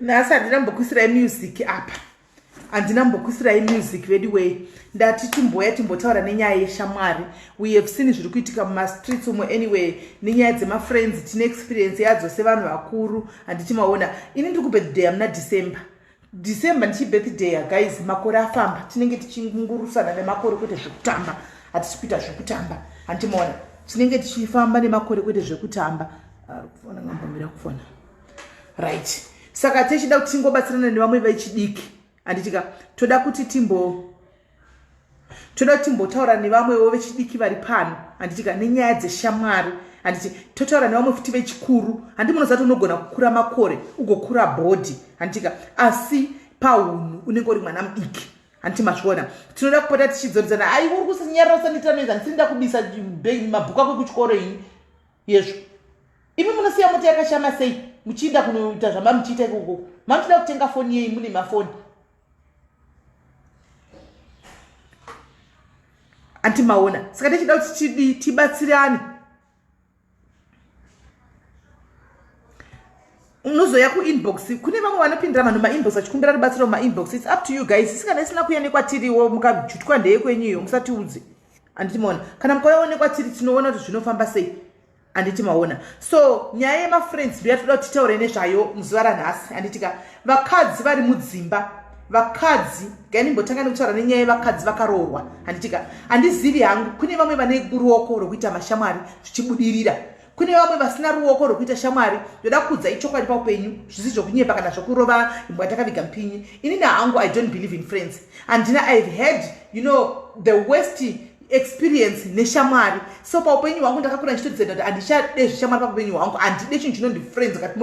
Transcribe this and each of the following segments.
nhasi handina mbokuisirai music apa handina mbokuisirai music veduwei ndati timboya timbotaura nenyaya yeshamwari we have seen zviri kuitika mumastreets umo anyway nenyaya dzemafriends tine experience yadzo sevanhu vakuru handiti maona ini ndiri kubirthday amuna december december ndichibirthday guys makore afamba tinenge tichingurusana nemakore kwete zvekutamba hatisi kuita zvekutamba handiti maona tinenge tichifamba nemakore kwete zvekutamba arikufona ngambomira kufona right saka tichida kuti tingobatsirana nevamwe vechidiki handitika toda kuti timbo toda kuti timbotaura nevamwewo vechidiki vari pano handiti ka nenyaya dzeshamwari handiti totaura nevamwe futi vechikuru handi munozati unogona kukura makore ugokura bhodhi handiti ka asi paunhu unenge uri mwana mudiki handiti mazviona tinoda kupota tichidzoridzana ai uri kusinyarira usandiitira noise handisiri ndakubisa mabhuku ako ekuchikoro ini yezvo imi munosiya mota yakashama sei muchiinda kunoita zvamamuchiita ikokoko manotoda kutenga foni yei mune mafoni anti maona saka tichida kuti tidii tibatsirane unozoya kuinbox kune vamwe vanopindira vanhu mainbox vachikumbira rubatsiro mumainbox its up to you guys isikana isina kuya nekwatiriwo mukajutwa ndeye kwenyuyo musatiudze anditi maona kana mukayaonekwa tiri tinoona kuti zvinofamba sei anditi maona so nyaya yemafriends riya toda kuti titaure nezvayo muzuva ranhasi anditika vakadzi vari mudzimba vakadzi gainimbotanga nekutaura nenyaya yevakadzi vakaroorwa anditika handizivi hangu kune vamwe vane ruoko rwekuita mashamwari zvichibudirira kune vamwe vasina ruoko rwekuita shamwari ndoda kudza ichokwadi paupenyu zvisi zvokunyepa kana zvokurova imbwa takaviga mpinyi inini hangu i don't believe in friends handina ihave heard you know the west experience neshamwari so paupenyu hwangu ndakakura ndichitodzenda kuti handichade zvishamwari paupenyu hwangu handide chinhu chinondi friends kati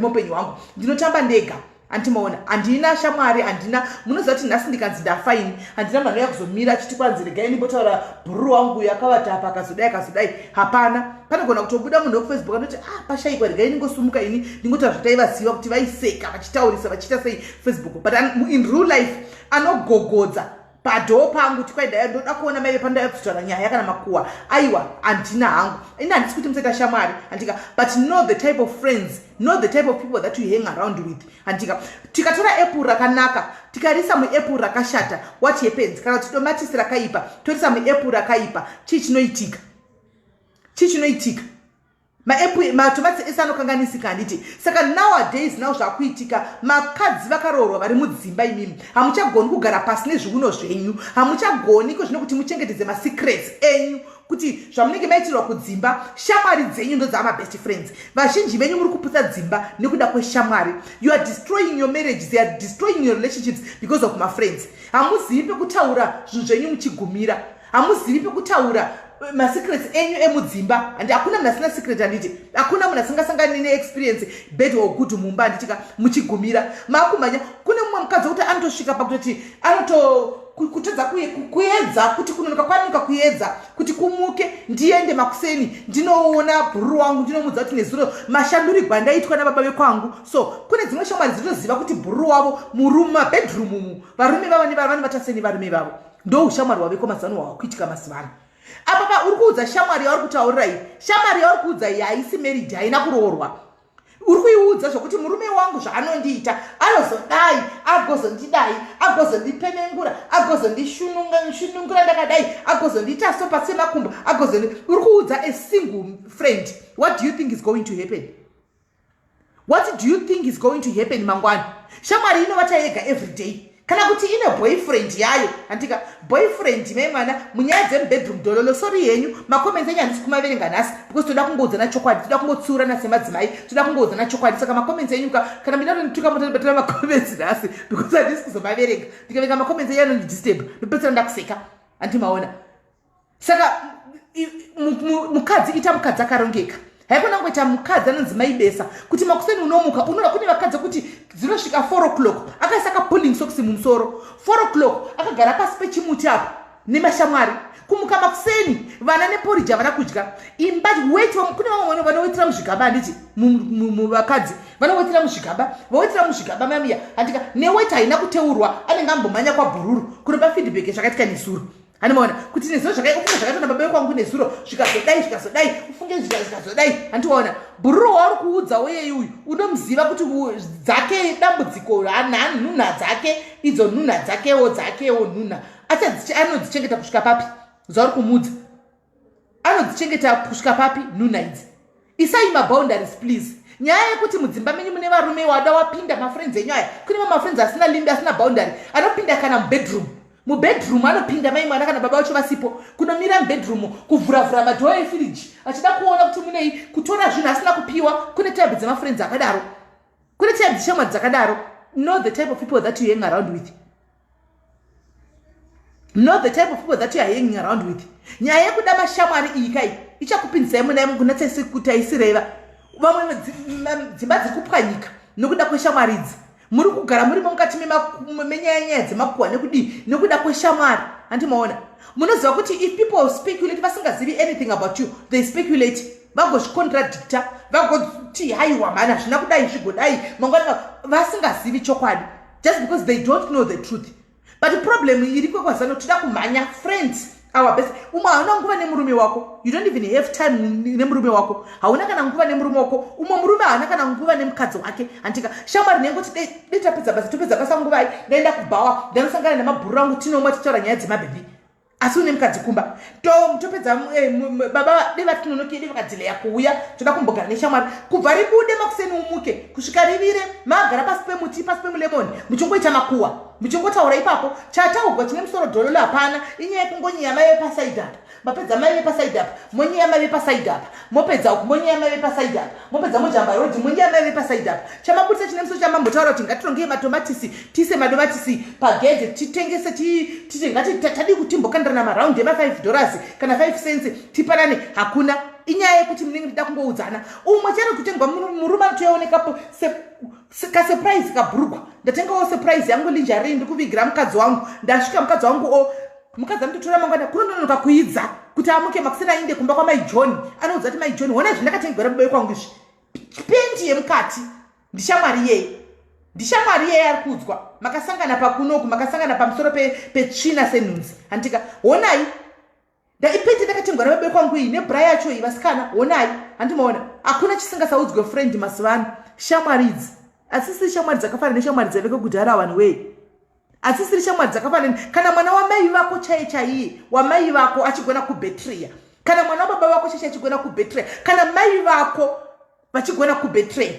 muupenyu hwangu ndinotamba ndega andimoona handina shamwari handina munoziva kuti nhasi ndikanzi ndafa ini handina mhano yakuzomira achiti kwanzi regai ndimbotaura bhururu wangu uyo akavata apa akazodai akazodai hapana panogona kutobuda munhu wekufacebook anoti ah pashaikwa regai ndingosumuka ini ndingotaura zvataivaziva kuti vaiseka vachitaurisa vachiita sei facebook but in real life anogogodza padhoo pangu tikwaidai ndoda kuona maive pandaiva kuzitaura nyaya yakana makuwa aiwa handina hangu ini handisi kuti musaita shamwari handika but know the type of friends know the type of people that you hang around with handika tikatora apple rakanaka tikarisa muapple rakashata what happens kana kuti tomatisi rakaipa torisa muapple rakaipa chii chinoitika chii chinoitika maepple matomatis ese anokanganisika handiti saka nowadays now zvakuitika makadzi vakaroorwa vari mudzimba imimi hamuchagoni kugara pasi nezviuno zvenyu hamuchagoni ko zvino kuti muchengetedze masecrets enyu kuti zvamunenge maitirwa kudzimba shamwari dzenyu ndodzaama best friends vazhinji venyu muri kuputsa dzimba nekuda kweshamwari you are destroying your marriage they are destroying your relationships because of mafriends hamuzivi pekutaura zvinhu zvenyu muchigumira hamuzivi pekutaura eh, masecrets enyu emudzimba handi hakuna munhu asina secret handiti hakuna munhu asingasangani neexperience bed or good mumba handitika muchigumira maakumhanya kune mumwe mukadzi wekuti anotosvika pakutoti anoto kutadza kuedza kuti kunonoka kwanonoka kuedza kuti kumuke ndiende makuseni ndinoona bhururu wangu ndinomudza kuti nezuro mashandurigwa ndaitwa nababa vekwangu so kune dzimwe shamwari dzinoziva kuti bhururu wavo murumu mabedroom umu varume vavo nevavanhu vataseni varume vavo ndoushamwari waveko mazano hwawakuitika mazuva ano apapa uri kuudza shamwari yauri kutaurira iyi shamwari yauri kuudza iyi haisi marriage haina kuroorwa uri kuiudza zvokuti murume wangu zvaanondiita anozodai agozondidai agozondipenengura agozondishunungura ndakadai agozondiita so pasi semakumbo agozondi uri kuudza a single friend what do you think is going to happen what do you think is going to happen mangwana shamwari inovata yega every day kana kuti ine boyfriend yayo handika boyfriend me mwana munyaya dzemubedroom dololo sori yenyu macomments enyu handisi kumaverenga nhasi because toda kungoudzana chokwadi toda kungotsiurana semadzimai toda kungoudzana chokwadi saka macomments enyu ka kana mina tonituka motobatira macomments nhasi because handisi kuzomaverenga ndikaverenga macomments enyu anondidisturb ndopedzisira ndakuseka handimaona saka mukadzi ita mukadzi akarongeka haikona kungoita mukadzi anonzi maibesa kuti makuseni unomuka unoda kune vakadzi kuti dzinosvika four o'clock akaisa kapulling socks mumusoro four o'clock akagara pasi pechimuti apo nemashamwari kumuka makuseni vana neporiji havana kudya imba weti kune vamwe vanowetera muzvigaba handiti vakadzi vanowetera muzvigaba vawetera muzvigaba mamiya handika neweti haina kuteurwa anenge ambomhanya kwabhururu kunopa feedback zvakaitika nesuru handimaona kuti nezuro zvakadai ufunge zvakaitwa nababa vekwangu nezuro zvikazodai zvikazodai ufunge zviya zvikazodai handiona bhururu wauri kuudza weyei uyu unomuziva kuti dzake dambudziko nhunha dzake idzo nhunha dzakewo dzakewo nhunha achadziche anodzichengeta kusvika papi zvauri kumuudza anodzichengeta kusvika papi nuna idzi isai maboundaries please nyaya yekuti mudzimba menyu mune varume wada wapinda mafriends enyu aya kune mamafriends asina limbi asina boundary anopinda kana mubedroom mubedroom anopinda mai mwana kana baba vacho vasipo kunomira mubedroom kuvhuravhura madhoo efiriji achida kuona kuti munei kutora zvinhu asina kupiwa kune type dzemafriends akadaro kune type dzeshamwari dzakadaro know the type of people that you hang around with not the type of people that you are hanging around with nyaya yekuda mashamwari iyi kai ichakupinzisai muna imo kuna tsese kuti aisireva vamwe dzimba dziri kupwanyika nokuda kweshamwari idzi muri kugara murimo mukati menyaya nyaya dzemakuwa nekudii nokuda kweshamwari handi maona munoziva kuti if people speculate vasingazivi anything about you they speculate vagozvicontradicta vagoti haiwa mhani hazvina kudai zvigodai mangwana vasingazivi chokwadi just because they don't know the truth but problem iriko kwazano tida kumhanya friends our best umwe hauna nguva nemurume wako you don't even have time nemurume wako hauna kana nguva nemurume wako umwe murume haana kana nguva nemukadzi wake hantika shamwari nengoti detapedza basa topedza basa nguvai ndaenda kubhawa ndanosangana nemabhuru rangu tinomwa tichitaura nyaya dzemabhebhi asi une mukadzi kumba tom topedza eh, baba de vatinonoke de vakadzileya kuuya toda kumbogara neshamwari kubva ribude makuseni umuke kusvika rivire magara pasi pemuti pasi pemulemoni muchingoita makuwa muchingotaura ipapo chataugwa chine musoro dololo hapana inyaya yekungonyeya mai vepasaidi apa mapedza mai vepasaidi apa monyeya mai vepasaidi apa mopedza uku monyaya maive pasaidi apa mopedza mojamba rodi monyaya maive pasaidi apa chamabudisa chine muso chamambotaura kuti ngatirongei matomatisi tiise madomatisi pagedhe titengese tite ngati tadii kuti timbokandirana namaraundi ema5 dollars kana 5 cents tipanane hakuna inyaya yekuti munenge ndida kungoudzana umwe chero kutengwa murume anotoyaonekapo kasurprise kabhurugwa ndatengawo surprise yangu linjari ndikuvigira mukadzi wangu ndasvika mukadzi wangu o mukadzi anototora mangwana kunononoka kuidza kuti amuke makuseni ainde kumba kwamai john anoudza kuti mai john hona izvi ndakatengera mubayo kwangu izvi pendi yemukati ndishamwari yei ndishamwari yei ari kuudzwa makasangana pakunoku makasangana pamusoro petsvina senhunzi handitika honai ndaipete ndakatengwa nababe kwangu iyi nebra yacho iyi vasikana honai handimaona hakuna chisingasaudzwe friend mazuva ano shamwari idzi asisiri shamwari dzakafana neshamwari dzaveke kudhara vanhu wee asisiri shamwari dzakafana kana mwana wamai vako chaiye chaiye wamai vako achigona kubetreya kana mwana wababa vako chaiye achigona kubetreya kana mai vako vachigona kubetreya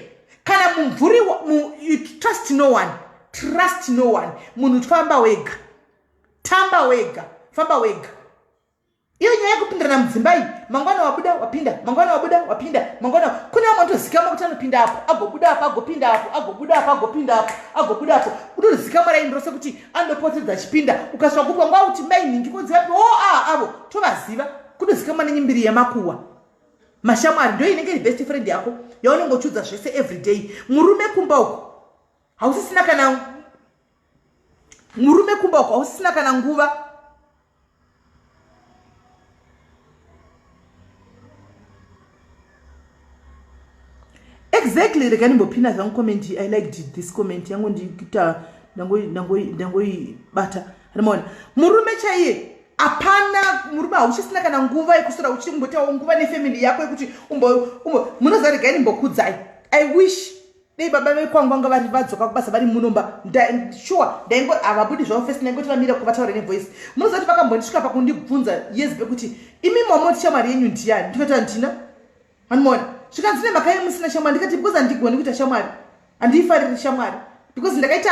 kana mumvuri mu, trust no one trust no one munhu tfamba wega tamba wega famba wega iyo nyaya yekupindirana mudzimba iyi mangwana wabuda wapinda mangwana wabuda wapinda mangwana kune vamwe vatozikama kuti anopinda apo agobuda apo agopinda apo agobuda apo agopinda apo agobuda apo kutozikama raini rose kuti anopotedza achipinda ukasvika kupa nguva kuti mai nhingi kodzivapi o oh, a avo tovaziva kutozikama nenyimbiri yemakuwa mashamwari ndo inenge iri best friend yako yaunenge uchiudza zvese every day murume kumba uko hausisina kana murume kumba uko ausina kana nguva exactly rega ndimbopina zvangu comment i liked this comment yangu ndikuita ndangoibata rimoona murume chaiye hapana murume hauchisina kana nguva yekusora uchimbotawo nguva nefamily yako yekuti munozaregai ndimbokudzai i wish dei baba vekwangu vanga vari vadzoka kubasa vari munomba sure ndaingo havabudi zvavo fesi ndaingoti vamira kuvataura nevoice munozati vakambondisvika pakundibvunza yes bekuti imi mamoti shamwari yenyu ndiyani ndikati handina hanimona zvikanzi nemhaka ye musina shamwari ndikati because handigoni kuita shamwari handiifariri shamwari because ndakaita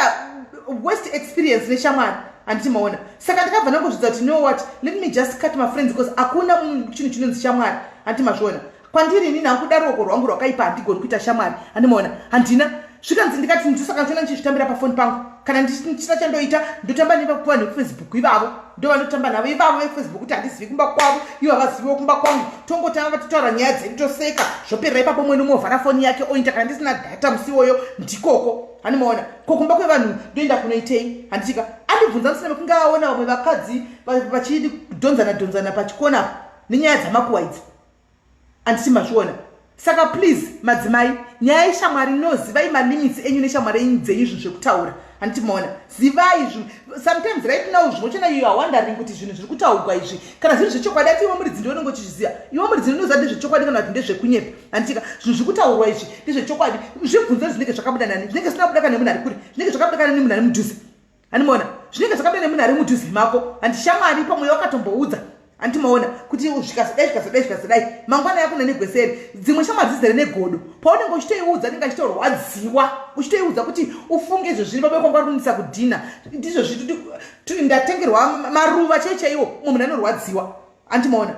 worst experience neshamwari handiti maona saka ndakabva ndangozvidza kuti no what let me just cut mafriends because hakuna chinhu chinonzi shamwari handiti mazviona kwandiri inini hangu kuda ruoko rwangu rwakaipa handigoni kuita shamwari handimaona handina zvikanzi ndikati ndisaka ndiona ndichizvitambira pafoni pangu kana ndisina chandoita ndotamba nevakupiwa nekufacebook ivavo ndovanotamba navo ivavo vekufacebook kuti handizivi kumba kwavo ivo havaziviwo kumba kwangu tongotanga vatitaura nyaya dzedu toseka zvoperera ipapo umwe nomwe ovhara foni yake oinda kana ndisina data musi iwoyo ndikoko handimaona ko kumba kwevanhu ndoenda kunoitei handitika andibvunza musina mekunge aona vamwe vakadzi vachidonzana donzana pachikona nenyaya dzamakuwa idzi anditi mazviona saka please madzimai nyaya yeshamwari inoziva imalimits enyu neshamwari enyu dzenyu zvinhu zvekutaura handiti maona zivai zvinhu sometimes right now zvimwe chena iyo awondering kuti zvinhu zviri kutaurwa izvi kana zviri zvechokwadi ati iwe muridzi ndiwe unenge uchizviziva iwe muridzi ndinoziva ndezvechokwadi kana kuti ndezvekunyepa handitika zvinhu zviri kutaurwa izvi ndezvechokwadi zvibvunzo zvinenge zvakabuda nani zvinenge zvisina kubuda kana nemunhu ari kure zvinenge zvakabuda kana nemunhu ari mudhuze handimaona zvinenge zvakada nemunhu ari mudhuze mako handi shamwari pamwe wakatomboudza handi maona kuti zvikazodai zvikazodai zvikazodai mangwana yako nenegweseri dzimwe shamwari dzizere negodo paunenge uchitoiudza anenge achitorwadziwa uchitoiudza kuti ufunge izvo zviri pabeko nguva kunisa kudhina ndizvo zviti ndatengerwa maruva chaiwo chaiwo mumwe munhu anorwadziwa handi maona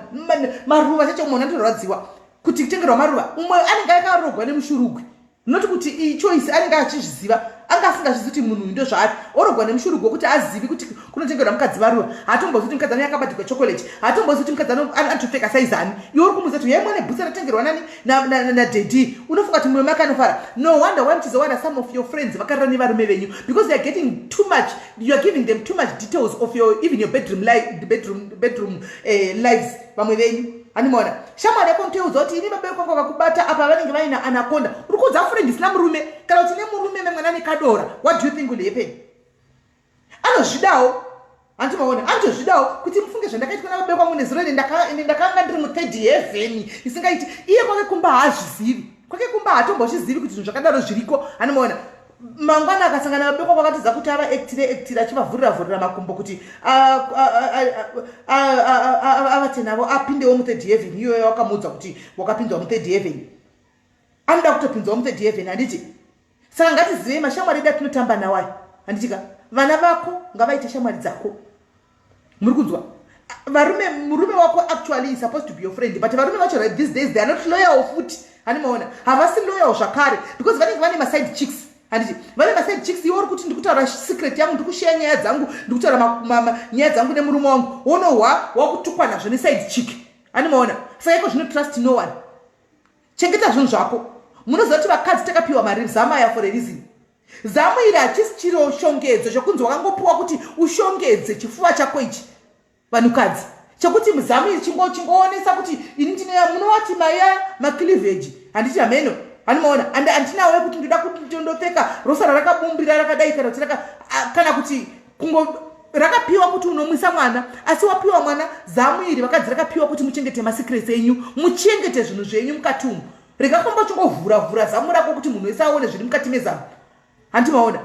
maruva chaiwo munhu anorwadziwa kuti kutengerwa maruva umwe anenge akarogwa nemushurugwi not kuti iyi choice anenge achizviziva anga asingazvizi kuti munhu uyu ndozvaari orogwa nemushurugu wekuti azivi kuti kunotengerwa mukadzi varuva haatombozi kuti mukadzi ano yakabatirwa chocolate haatombozi kuti mukadzi ano anotopfeka saizani iwe uri kumuza kuti yaimwa nebhutsa ratengerwa nani nadedi unofunga kuti mumwe make anofara no wonder why muchizowana some of your friends vakarira nevarume venyu because youare getting too much youare giving them too much details of your even your bedroom, li bedroom, bedroom uh, lives vamwe venyu animaona shamwari yako ntoiudza kuti ini vabereki vako vakubata apa vanenge vaine anakonda uri kuudza fure ndisina murume kana kuti nemurume memwana nekadora what do you think will happen anozvidawo hanti maona anotozvidawo kuti mufunge zvandakaitwa navabereki vangu nezuro ende ndakanga ndiri muthird heaven isingaiti iye kwake kumba haazvizivi kwake kumba haatombochizivi kuti zvinhu zvakadaro zviriko animoona mangwana akasangana vabekwa kwakatiza kuti ava ektire ektire achivavhurira vhurira makumbo kuti avate navo apindewo muthird heaven iyoyo wakamuudza kuti wakapindwa muthird heaven anoda kutopinzwa muthird heaven handiti saka ngatizivei mashamwari edu atinotamba nawo aya handitika vana vako ngavaite shamwari dzako muri kunzwa varume murume wako actually is supposed to be your friend but varume vacho right these days they are not loyal futi hani maona havasi loyal zvakare because vanenge vane maside chicks handiti vane maside chicks iwe uri kuti ndikutaura secret yangu ndikusheya nyaya dzangu ndikutaura nyaya dzangu nemurume wangu wonohwa wakutukwa nazvo neside chick hani maona saka iko zvino trust no one chengeta zvinhu zvako munoziva kuti vakadzi takapiwa mari zamaya for a reason Zamu iri hachisi chiro shongedzo chokunzi wakangopiwa kuti ushongedze chifuva chako ichi vanhukadzi chokuti muzamu iri chingoonesa kuti ini ndinoya munowati maya macliveji handiti hameno anomaona and handinawo yekuti ndoda kutondopfeka rosara rakabumbira rakadai kana kuti kana kuti kungo rakapiwa kuti unomwisa mwana asi wapiwa mwana zamu iri vakadzi rakapiwa kuti muchengete masecrets enyu muchengete zvinhu zvenyu mukati umu rega kufamba uchingovhura vhura zamu rako kuti munhu wese aone zviri mukati mezamu handi maona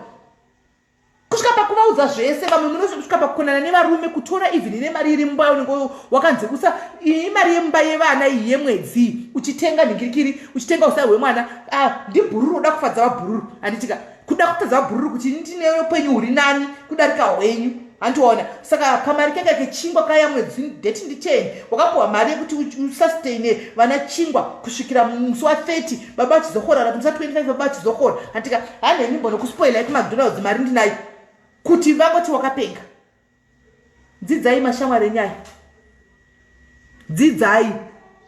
kusvika pakuvaudza zvese vamwe munosvika pakukonana nevarume kutora even ine mari iri mumba unenge wakanzi usa iyi mari yemumba yevana iyi yemwedzi uchitenga nhingirikiri uchitenga usai hwemwana ah, ndibhururu uda kufadza vabhururu handitika kuda kutadza bhururu kuti ndinewe kwenyu uri nani kudarika hwenyu handiona saka kamari keka kechingwa kaya mwedzi deti ndicheni wakapuwa mari yekuti usustaine vana chingwa kusvikira musi wa 30 baba achizokora ra musa 25 baba achizokora handika hanhenyu mbonokuspoilai kumacdonalds mari ndinayo kuti vangoti wakapenga dzidzai mashamwari enyaya dzidzai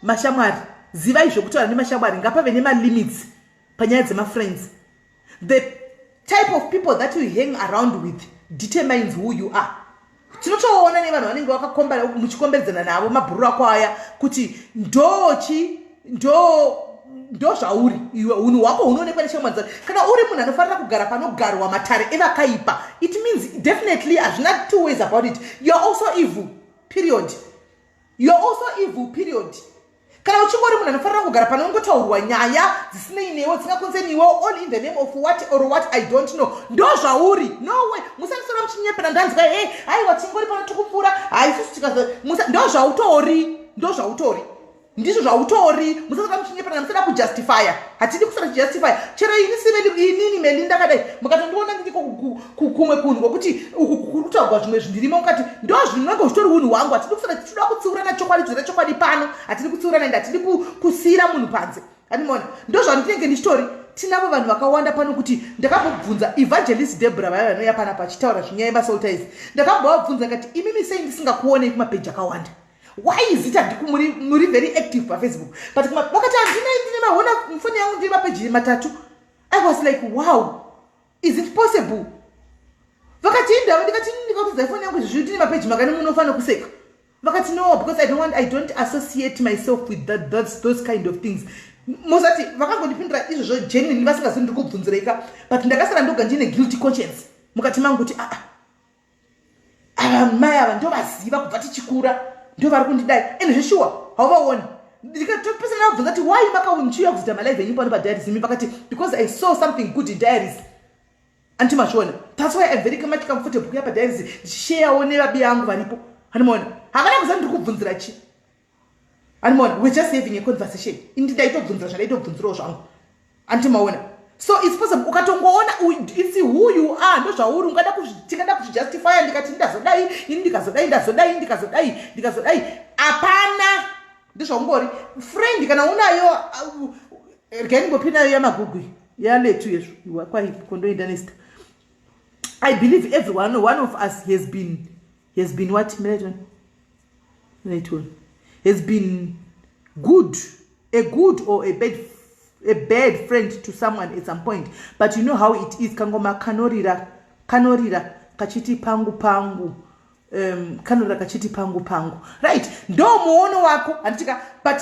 mashamwari zivai zvekutaura nemashamwari ngapave nemalimits panyaya dzemafriends the type of people that you hang around with determines who you are tinotoona nevanhu vanenge vakakombara muchikombedzana navo mabhururu ako aya kuti ndochi ndo ndo zvauri iwe unhu hwako hunoonekwa neshamwa dzake kana uri munhu anofanira kugara panogarwa matare evakaipa it means definitely hazvina two ways about it youare also evil period youare also evil period kana uchingori munhu anofanira kugara panongotaurwa nyaya dzisinei newe dzingakonze niwe all in the name of what or what i don't know ndo zvauri nowe musandisora muchinyepera ndanzwa he haiwa tingori pano tikupfuura haisusu tikazo ndo zvautori ndo zvautori ndizvo zvautori musasaka muchinyeperana musada kujustifya hatidi kusada kujustify chero ini siveli inini meli ndakadai mukatondiona ndiko kumwe kunhu kwekuti uku kuri kutaugwa zvimwe zvindirimo mukati ndo zvinenge zvitori unhu hwangu hatidi kusada tichida kutsiurana chokwadi dzira chokwadi pano hatidi kutsiurana ende hatidi kusiira munhu panze animona ndo zvandinenge ndichitori tinavo vanhu vakawanda pano kuti ndakambobvunza evangelist debra vaya vanouya pana pachitaura zvinyaya masolta izi ndakambovabvunza kati imimi sei ndisingakuonei kumapeji akawanda why is it handiku muri, muri very active pafacebook but vakati handina ndine mahona mufoni yangu ndine mapeji matatu i was like wow is it possible vakati indava ndikati ndikakudza ifoni yangu izvizvi ndine mapeji makani munofanira kuseka vakati no because i don't want i don't associate myself with that, that's, those kind of things mozati vakangondipindura izvozvo genuinely vasingazi ndiri kubvunzireika but ndakasara ndoga ndine guilty conscience mukati mangu kuti aa ah, ah, ava mai ava ndovaziva kubva tichikura ndovari kundidai ende zveshuwa hauvaoni ndikatopesa ndavabvunza kuti why makaunchiuya kuzoita malive enyu pano padiaries imi pakati because i saw something good in diaries anti machona that's why i'm very much comfortable kuya padiaries ndichisheyawo nevabi yangu varipo andimaona havana kuza ndiri kubvunzira chii animoona we're just having a conversation indi ndaitobvunzira zvandaitobvunzirawo zvangu anti maona so its possible ukatongoona its who you are ndozvauri ungada tingada kuzvijustifya ndikati ndazodai ini ndikazodai ndazodai ndikazodai ndikazodai hapana ndozvaungori friend kana unayo uh, rgaingopi nayo yamagugwi yaletu yezvo iwa kwaikondoenda nesta i believe everyone one of us has been he has been what miraton miraton has been good a good or a bad a bad friend to someone at some point but you know how it is kangoma kanorira kanorira kachiti pangu pangu um, kanorira kachiti pangu pangu right ndo muono wako handitika but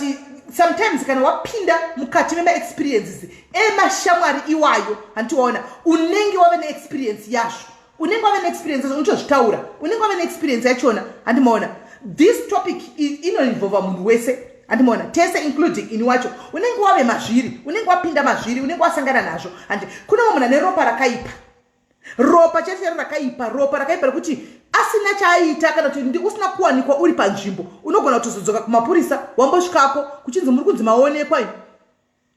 sometimes kana wapinda mukati memaexperiences emashamwari iwayo handiwaona unenge wave neexperience yazvo unenge wave neexperience yacho uchozvitaura unenge wave neexperience yachona handimaona this topic inoinvolva munhu wese handimaona tese including ini wacho unenge wave mazviri unenge wapinda mazviri unenge wasangana nazvo handi kune vamwe munhu ane ropa rakaipa ropa chete rakaipa ropa rakaipa rekuti asina chaaita kana kuti usina kuwanikwa uri panzvimbo unogona kutozodzoka kumapurisa wambosvikako kuchinzi muri kunzi maonekwa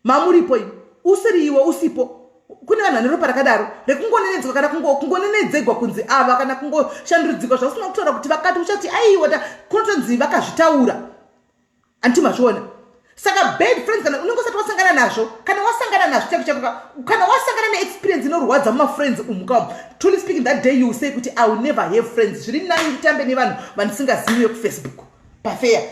mamuripo imi usiri iwe usipo kune vanhu vane ropa rakadaro rekungonenedzwa kana kungonenedzegwa kunzi ava kana kungoshandurudzikwa zvausina kutaura kuti vakati uchati aiwata kunotonzi vakazvitaura anti mazviona saka bad friends kana unenge usati wasangana nazvo kana wasangana nazvo chako chako kana wasangana neexperience inorwadza mumafriends umu ka truly speaking that day you say kuti i will never have friends zviri nani nditambe nevanhu vandisingaziviwe kufacebook pafeya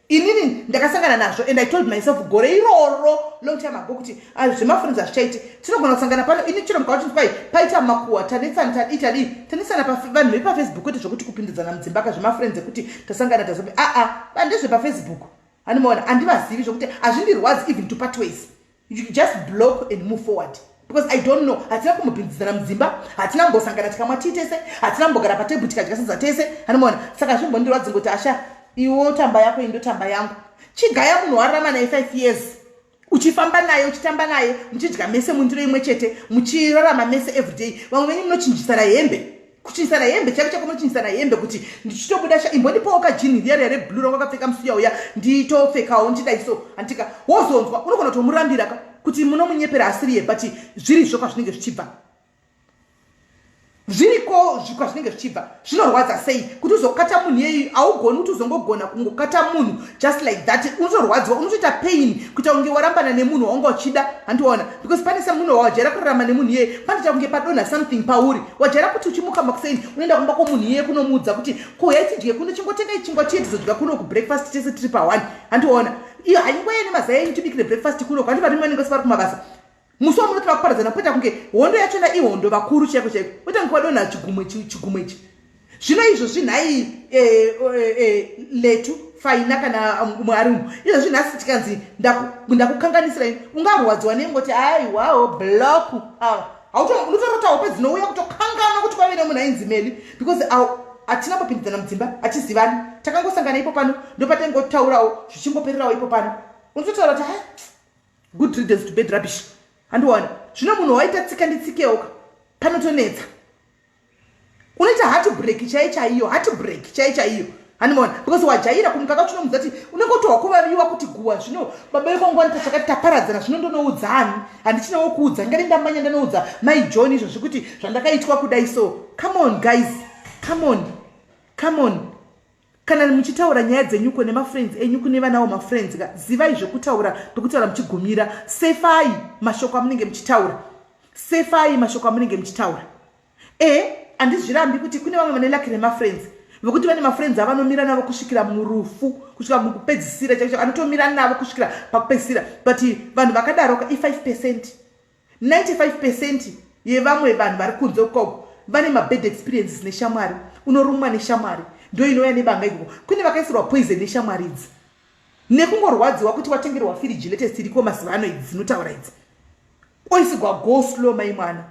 inini ndakasangana nazvo and i told myself gore iroro long time ago kuti ah, zvemafurinzi hazvichaiti tinogona kusangana pano ini chero mukauti kwai paita makuwa tanetsana tadii tadii tanetsana vanhu vepafacebook kwete zvekuti kupindidzana mudzimba ka zvemafurinzi ekuti tasangana tazobe aa ah, ah, bandezvepafacebook animoona handivazivi zvekuti hazvindirwadzi even to patways you just block and move forward because i don't know hatina kumbopinzidzana mudzimba hatina kumbosangana tikamwa tii tese hatina kumbogara patebhu tikadya sadza tese anomona saka zvimbondirwadzi ngoti asha iwo tamba yako indotamba yangu chigaya munhu wararama naye five years uchifamba naye uchitamba naye muchidya mese mundiro imwe chete muchirarama mese everyday vamwe venyu munochinjisana hembe kuchinisana hembe chaive chako munochinisana hembe kuti ndichitobuda sha imbondipawo kajini riya riya reblue rawakapfeka musiya uya nditopfekawo ndichidai so antika wozonzwa unogona kutomurambira ka kuti munomunyepera asiriye but zvirizvo kwazvinenge zvichibva zviriko kwazvinenge zvichibva zvinorwadza sei kuti uzokata munhu yeyi augoni kuti uzongogona kungokata munhu just like that unotorwadziwa unotoita pain kuita kunge warambana nemunhu waunga uchida handiona because pane semunhu wawajaira kurarama nemunhu iyeye panoita kunge padonha something pauri wajaira kuti uchimuka makuseni unoenda kumba kwomunhu iyeye kunomuudza kuti kuuya tidye kuno chingotenga ichingwa chiye tizodya kuno kubreakfast tese tiri paone handiona iyo haingoya nemazai enyu tibikire breakfast kuno kwandi varimwe vanenge sivari kumabasa musi wamuno tava kuparadzana poita kunge hondo yachona ihondo vakuru chaiko chaiko poita kunge vadonha chigumwe chigumwe ichi zvino izvo zvinhai eh, eh, eh, letu faina kana um, umwe ari umu izvo zvinhasi tikanzi ndakukanganisira ini ungarwadziwa nengoti aiwawo bloku awa hautonotototawo pedzinouya kutokanganwa kuti kwave nemunhu ainzi meli because hatina kupindidzana mudzimba hachizivani takangosangana ipo pano ndopatengotaurawo zvichingopererawo ipo pano unototaura kuti ha good riddance to bed rubbish handiwani zvino munhu waita tsika nditsikewoka panotonetsa unoita hati break chai chaiyo hati break chai chaiyo handimaona because wajaira kumuka kacho unomudza ti unenge utohwa kuvaviwa kuti guwa zvino baba vekongo wani tachakati taparadzana zvino ndonoudza ani handichina wokuudza ngari ndambanya ndanoudza mai john izvo zvekuti zvandakaitwa kudai so come on guys come on come on Kana muchitaura nyaya dzenyuko nemafriends enyu kune vanawo mafriends ka zivai zvekutaura pekutaura muchigumira sefai mashoko amunenge muchitaura sefai mashoko amunenge muchitaura e handizvirambi kuti kune vamwe vane laki remafriends vekuti vane mafriends avanomira navo kusvikira murufu kusvika mukupedzisira chaicho anotomira navo kusvikira pakupedzisira but vanhu vakadaroka i5 percent 95 percent yevamwe vanhu vari kunze ukoko vane mabad experiences neshamwari unorumwa neshamwari ndo inouya nebanga ikoko kune vakaisirwa poison neshamwari idzi nekungorwadziwa kuti watengerwa firiji latest iriko mazuva ano idzi dzinotaura idzi oisigwa go slow mai mwana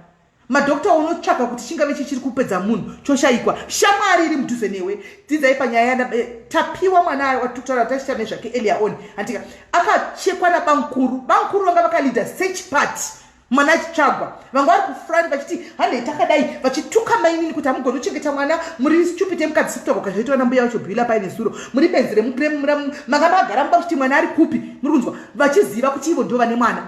madokta unotsvaka kuti chingave chichiri kupedza munhu choshayikwa shamwari iri mudhuze newe dzidzai panyaya eh, tapiwa mwana ayo atutaura tachiita nezvake elia on handika akachekwa nabankuru bankuru vanga vakaleader search part mwana achitsvagwa vanga vari kufrani vachiti hanei takadai vachituka mainini kuti hamugoni kuchengeta mwana muri stupid emukadzi kutaura kazvaitwa nambuya vacho bhila paine zuro muri benzi remukremura manga magara muba kuti mwana ari kupi muri kunzwa vachiziva kuti ivo ndo vane mwana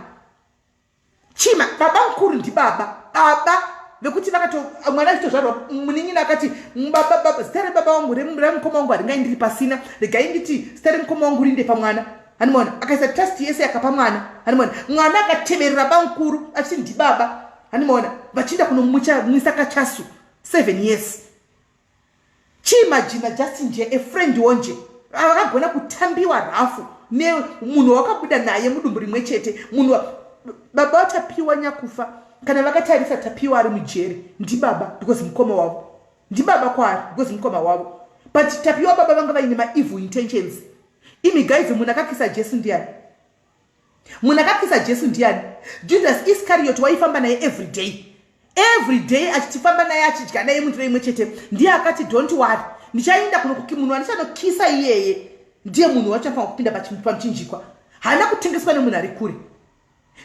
chima baba mukuru ndibaba baba vekuti vakato mwana achitozvarwa munin'ina akati baba baba zita rebaba wangu remukoma wangu haringai ndiri pasina regai nditi zita remukoma wangu rinde pamwana hanimona akaisa trust yese yakapa mwana hanimona mwana akateverera bamukuru achiti ndibaba hanimona vachienda kunomwisa kachasu seven years chii majina just nje a friend wonje vakagona kutambiwa rafu nemunhu wakabuda naye mudumbu rimwe chete munhu baba vatapiwa nyakufa kana vakatarisa tapiwa ari mujeri ndibaba because mukoma wavo ndibaba kwaari because mukoma wavo but tapiwa baba vanga vaine maevil intentions imi guys munhu akakisa jesu ndiani munhu akapisa jesu ndiani judas iscariot waifamba naye every day every day achitifamba naye achidya naye mundiro imwe chete ndiye akati don't wari ndichaenda kunokuki munhu andichanokisa iyeye ndiye munhu wachafanira kupinda pamuchinjikwa haana kutengeswa nemunhu ari kure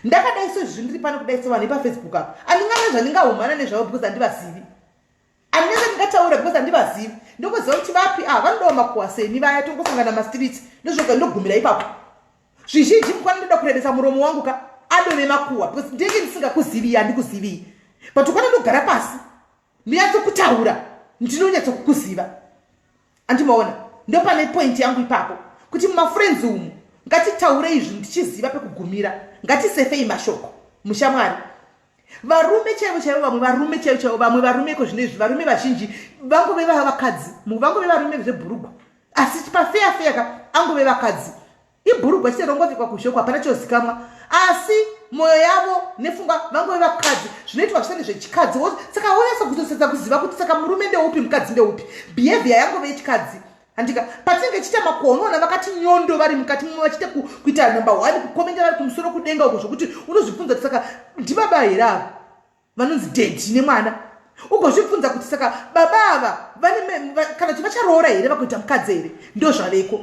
ndakadai sezvindiri pano kudai sevanhu ipafacebook apo andingana zvandingahumana nezvavo because andivazivi anese ndingataura because handivazivi ndokuziva kuti vapi ava ah, vanodawa makuwa seni vaya tongosangana mastreets ndozvoga ndogumira ipapo zvizhinji mukwana ndoda kurebesa muromo wangu ka adove makuwa because ndenge ndisingakuziviyi handikuziviyi but ukwana ndogara pasi ndinyatsokutaura ndinonyatsokukuziva andimaona ndopane point yangu ipapo kuti mumafriends umu ngatitaure izvi ndichiziva pekugumira ngatisefei mashoko mushamwari varume chaivo chaivo vamwe varume chaivo chaivo vamwe varume iko zvino izvi varume vazhinji vangove vavakadzi vangove varume zvebhurugwa asi pafeya feya ka angove vakadzi ibhurugwa chete rongovekwa kuzhekwa hapana chozikamwa asi mwoyo yavo nefunga vangove vakadzi zvinoitwa zvisati zvechikadzi wo saka wonyasa kuzosedza kuziva kuti saka murume ndeupi mukadzi ndeupi behavior yangove yechikadzi handika patinenge tichiita makuonoona vakati nyondo vari mukati mumwe vachiita kuita number one kukomenda vari kumusoro kudenga uko zvokuti unozvibvunza kuti saka ndibaba here avo vanonzi dedi nemwana ugozvibvunza kuti saka baba ava kana kuti vacharoora here vakuita mukadzi here ndo zvaveko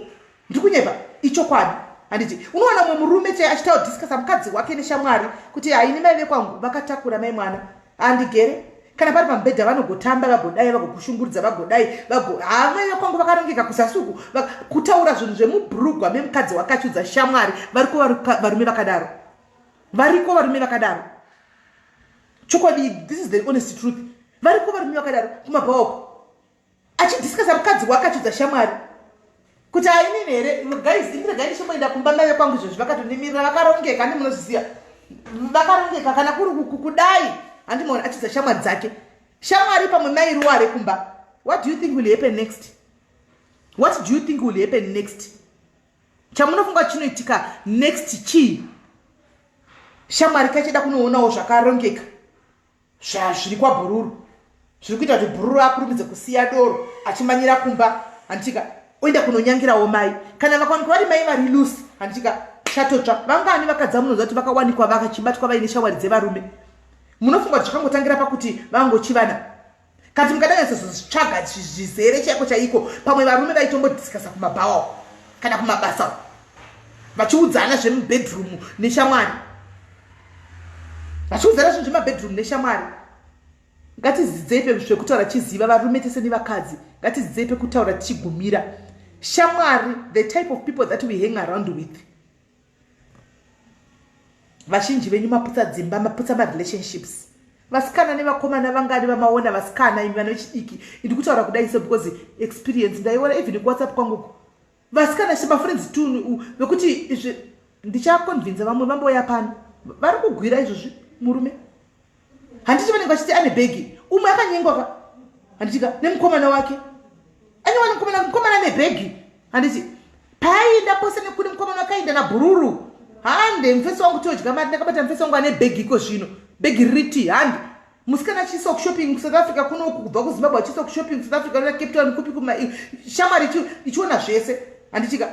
ndiri kunyepa ichokwadi handiti unowana mumwe murume chai achitawo discusa mukadzi wake neshamwari kuti haini mai vekwangu vakatakura mai mwana handigere kana pari pamubhedha vanogotamba vagodai vagokushunguridza vagodai havamai vekwangu vakarongeka kuzasuku kutaura zvinhu zvemubrugwa memukadzi wakachudza shamwari variko varume vakadaro variko varume vakadaro chokwadi this is the honest truth variko varume vakadaro kumabhaoko achidiscasa mukadzi wake achidza shamwari kuti ainini here guys indiregai ndichimboenda kumba mave kwangu izvozvi vakatonimirira vakarongeka andi munozviziva vakarongeka kana kuri kudai handimaona achidza shamwari dzake shamwari pamwe mairuwa ari kumba what do you think will happen next what do you think will happen next chamunofunga chinoitika next chii shamwari kachida kunoonawo zvakarongeka zvazviri kwabhururu zviri kuita kuti bhururu akurumidze kusiya doro achimanyira kumba handitika oenda kunonyangirawo mai kana vakawanikwa vari mai vari lusi handitika chatotsva vangani vakadzi amunoziva kuti vakawanikwa vakachibatwa vaine shamwari dzevarume munofunga kuti zvakangotangira pakuti vangochivana kati mukadanyatsa zvitsvaga zvizere chaiko chaiko pamwe varume vaitombodiskasa kumabhawa kana kumabasa vachiudzana zvemubedroom neshamwari vachiudzana zvinhu zvemabedroom neshamwari ngatizidzei pezvekutaura tichiziva varume tese nevakadzi ngatizidzei pekutaura tichigumira shamwari the type of people that we hang around with vazhinji venyu maputsa dzimba maputsa marelationships vasikana nevakomana vangani vamaona vasikana imi vana vechidiki indi kutaura kudai so because experience ndaiona even kuwhatsapp kwangu vasikana se mafriends tun vekuti izvi ndichakonvinza vamwe vamboya pano vari kugwira izvozvi murume handiti vanenge vachiti ane bhegi umwe akanyengwa ka handitika nemukomana wake anyewa nemukomana mukomana ane bhegi handiti paaenda pose nekune mukomana wake aenda nabhururu hande mufesi wangu todya mari ndakabata mufesi wangu ane bhegi iko zvino bhegi riti hande musikana achiisa kushopping kusouth africa kunoku kubva kuzimbabwe achiisa kushopping kusouth africa na cape town kupi kuma shamwari ichiona zvese handitika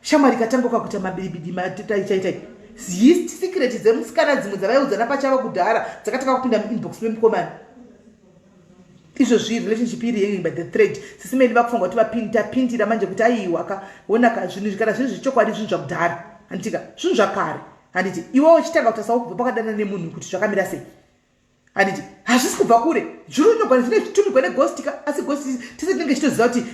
shamwari katanga ukakuita mabiribidi mataichaitai zist secret dzemusikana dzimwe dzavaiudzana pachava kudhara dzakatanga kupinda muinbox memukomana izvo zvii relationship iri yei by the thread sisi meni vakufunga kuti vapindi tapindira manje kuti aiiwaka onaka zvinhu zvikana zvinhu zvechokwadi zvinhu zvakudhara handitika zvinhu zvakare handiti iwe uchitanga kuti asaukubva pakadana nemunhu kuti zvakamira sei handiti hazvisi kubva kure zviri unyogwana zvine zvitumirwa neghosti ka asi ghosti tese tinenge chitoziva kuti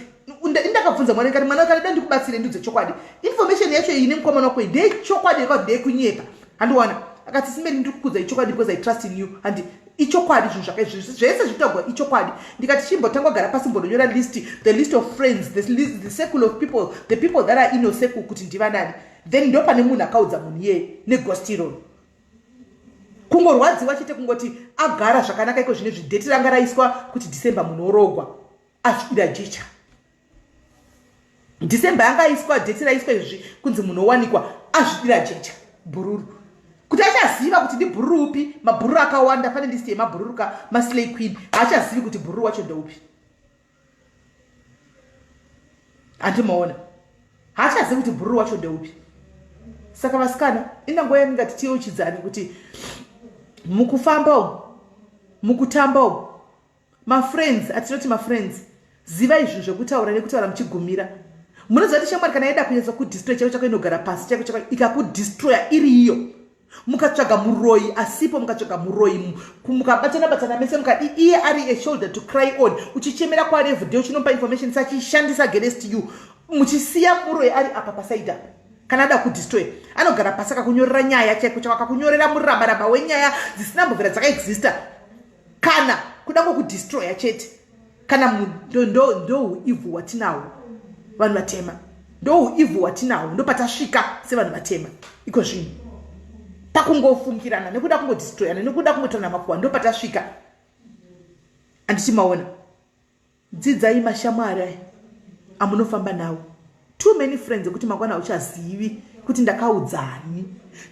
ndakabvunza mwana kati mwana wekati da ndikubatsire ndiudze chokwadi information yacho iyi nemukomana wako ndeye chokwadi yekati ndeye kunyepa handiwana akati simeri ndiri kukudza ichokwadi because i trust in you handi ichokwadi zvinhu zvakaizvi zvese zvitagwa ichokwadi ndikati chimbotangwa gara pasi mbononyora list the list of friends the, list, the circle of people the people that are inoseku kuti ndivanani then ndopane munhu akaudza munhu iyeye negostironi kungorwadziwa chete kungoti agara zvakanaka iko zvine zvidheti ranga raiswa kuti december munhu orogwa asvira jecha december yanga aiswa dheti raiswa izvi kunzi munhu owanikwa azvidira jecha bhururu kuti achaziva kuti ndibhururu upi mabhururu akawanda pane listi yemabhururu ka maslay queen haachazivi kuti bhururu wacho ndoupi hanti maona haachazivi kuti bhururu wacho ndeupi saka vasikana inango yandingati tiyeuchidzani kuti mukufamba umu mukutamba umu mafriends atinoti mafriends ziva izvi zvekutaura nekutaura muchigumira munoziva kuti shamwari kana yaida kunyatsa kudistroy chako chako inogara pasi chako chako ikakudistroya iri iyo mukatsvaga muroyi asipo mukatsvaga muroyi mukabatana batana mese mukadi iye ari a shoulder to cry on uchichemera kwaari every day uchinompa information sachishandisa against you muchisiya muroyi ari apa pasaidi apa kana ada kudestroy anogara pasi akakunyorera nyaya chaiko chako akakunyorera murabaraba wenyaya dzisina mbovera dzakaexista kana kuda kwokudestroya chete kana ndouivhu hwatinawo vanhu vatema ndouivhu hwatinawo ndopatasvika sevanhu vatema iko zvinhu pakungofungirana nekuda kungodistroyana nekuda kungotorana makuwa ndopatasvika andichimaona dzidzai mashamwari aya amunofamba nawo too many friends ekuti mangwana hauchazivi kuti ndakaudzani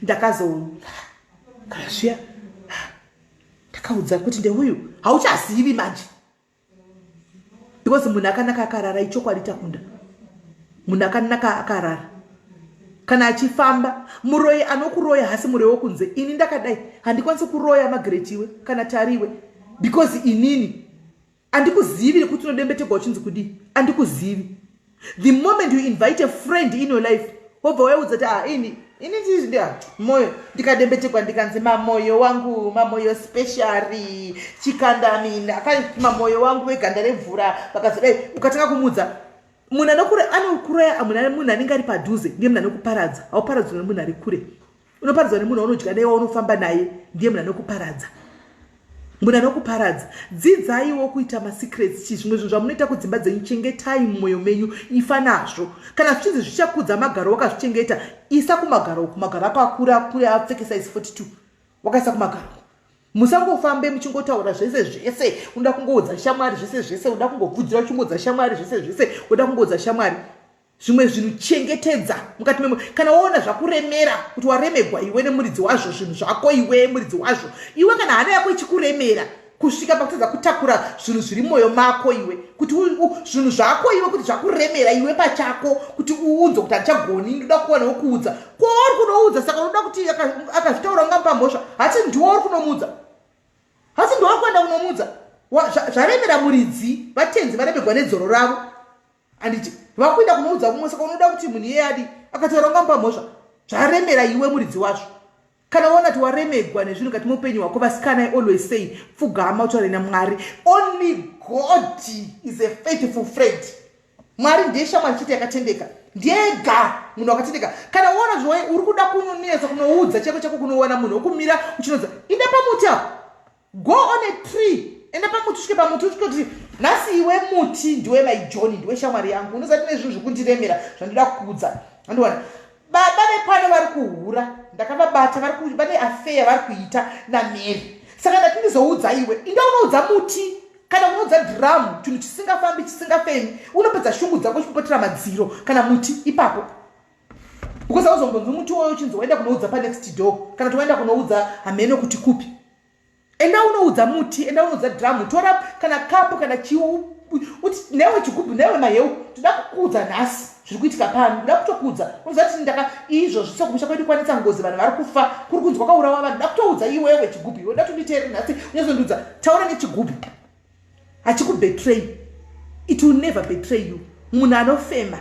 ndakazokaa zviya ndakaudza kuti ndeuyu hauchazivi manje because munhu akanaka akarara ichokwadi takunda munhu akanaka akarara kana achifamba muroyi anokuroya hasi muroyi wokunze ini ndakadai handikwanisi kuroya magretiwe kana tariwe because inini andikuzivi nekuti unodembetegwa uchinzi kudii andikuzivi the moment you invite a friend in your life wobva wayaudza kuti ah, ini ini ndizvi ah, moyo ndikadembetegwa ndikanzi mamoyo wangu mamoyo speciary chikandamini akamamoyo wangu veganda remvura vakazodai ukatanga kumudza munhu anokuraya munhu anenge ari padhuze ndiye munhu anokuparadza hauparadzwa nemunhu ari kure unoparadzwa nemunhu waunodya naye waunofamba naye ndiye munhu anokuparadza munhu anokuparadza dzidzaiwo kuita masecrets chi zvimwe zvinhu zvamunoita kudzimba dzenyu chengetai mumwoyo menyu ifa nazvo kana zvichinzi zvichakudza magaro wakazvichengeta isa kumagaro uku magaro ako akura akure apfekesa isi 42 wakaisa kumagaro uku musangofambe muchingotaura zvese zvese unoda kungoudza shamwari zvese zvese unoda kungobvudzira uchingoudza shamwari zvese zvese unoda kungoudza shamwari zvimwe zvinhu chengetedza mukati memo kana waona zvakuremera kuti waremegwa iwe nemuridzi wazvo zvinhu zvako iwe muridzi wazvo iwe kana hana yako ichikuremera kusvika pakutadza kutakura zvinhu zviri mwoyo mako iwe kuti zvinhu zvako iwe kuti zvakuremera iwe pachako kuti uunzwe kuti handichagoni ndoda kuwanawo kuudza kwauri kunoudza saka unoda kuti akazvitaura unga mupamhosva hasi ndiwo uri kunomuudza hasi ndiwo uri kuenda kunomuudza zvaremera muridzi vatenzi varemegwa nedzoro ravo anditi vakuenda kunoudza kumwe saka unoda kuti munhu iye adi akataura ungamupa mhosva zvaremera iwe muridzi wazvo kana waona kuti waremegwa nezvinhu kati muupenyu hwako vasikana i always say pfugama utaure namwari only god is a faithful friend mwari ndiye shamwari chete yakatendeka ndiyega munhu wakatendeka kana uona zvoe uri kuda kunonetsa kunoudza cheko chako kunoona munhu wokumira uchinodza inde pamuti apo go on a tree enda pamuti usvike pamuti usvikoti nhasi iwe muti ndiwe mai johni ndiwe shamwari yangu unozati nezvinhu zvekundiremera zvandoda kuudza andiwana baba vepano vari kuhura ndakavabata vane afeya vari kuita namary saka ndati ndizoudza iwe inda unoudza muti kana unoudza dhiramu chinhu chisingafambi chisingafemi unopedza shungu dzako chipotera madziro kana muti ipapo because auzombonzwi muti woyo uchinzi waenda kunoudza panext door kana kuti waenda kunoudza hameno kuti kupi enda unoudza muti enda unoudza dramu tora kana kapu kana chiu uti newe chigubhu newe maheu toda kukuudza nhasi zviri kuitika pano ndoda kutokuudza unoziva kuti ndaka izvozvi sekumusha kwedu kwanetsa ngozi vanhu vari kufa kuri kunzi kwakaurawa vanhu ndoda kutoudza iwewe chigubhu iwe ndoda tonditeere nhasi unyazondiudza taura nechigubhu hachikubetray it will never betray you munhu anofema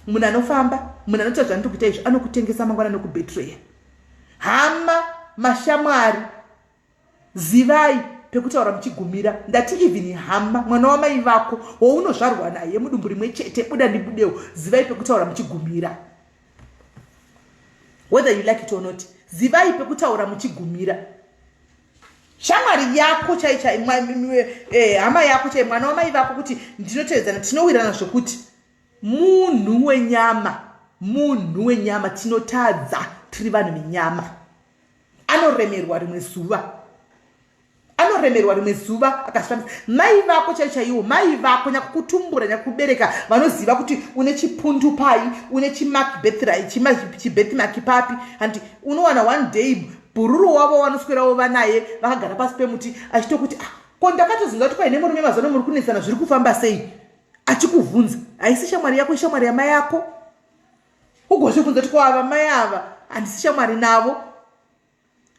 munhu anofamba munhu anoita zvanoti kuita izvo anokutengesa mangwana nokubetraya hama mashamwari zivai pekutaura muchigumira ndati even hama mwana wamai vako wounozvarwa naye mudumbu rimwe chete buda ndibudewo zivai pekutaura muchigumira whether you like it or not zivai pekutaura muchigumira shamwari yako chaichai eh, hama yako chai mwana wamai vako kuti ndinotevedzana tinowirana zvokuti munhu wenyama munhu wenyama tinotadza tiri vanhu venyama anoremerwa rimwe zuva anoremerwa rimwe zuva akasvamisa mai vako chai chaiwo mai vako nyakukutumbura nyakukubereka vanoziva kuti une chipundu pai une chimakbethri chibethmaki papi handi unowana one day bhururu wavo wanoswerawo vanaye vakagara pasi pemuti achitokuti ah, ko ndakatozonza kuti paine murume mazano muri kunetsana zviri kufamba sei achikuvhunza haisi shamwari yako ishamwari yamai yako ugozvibvunza kuti kwava mai ava handisi shamwari navo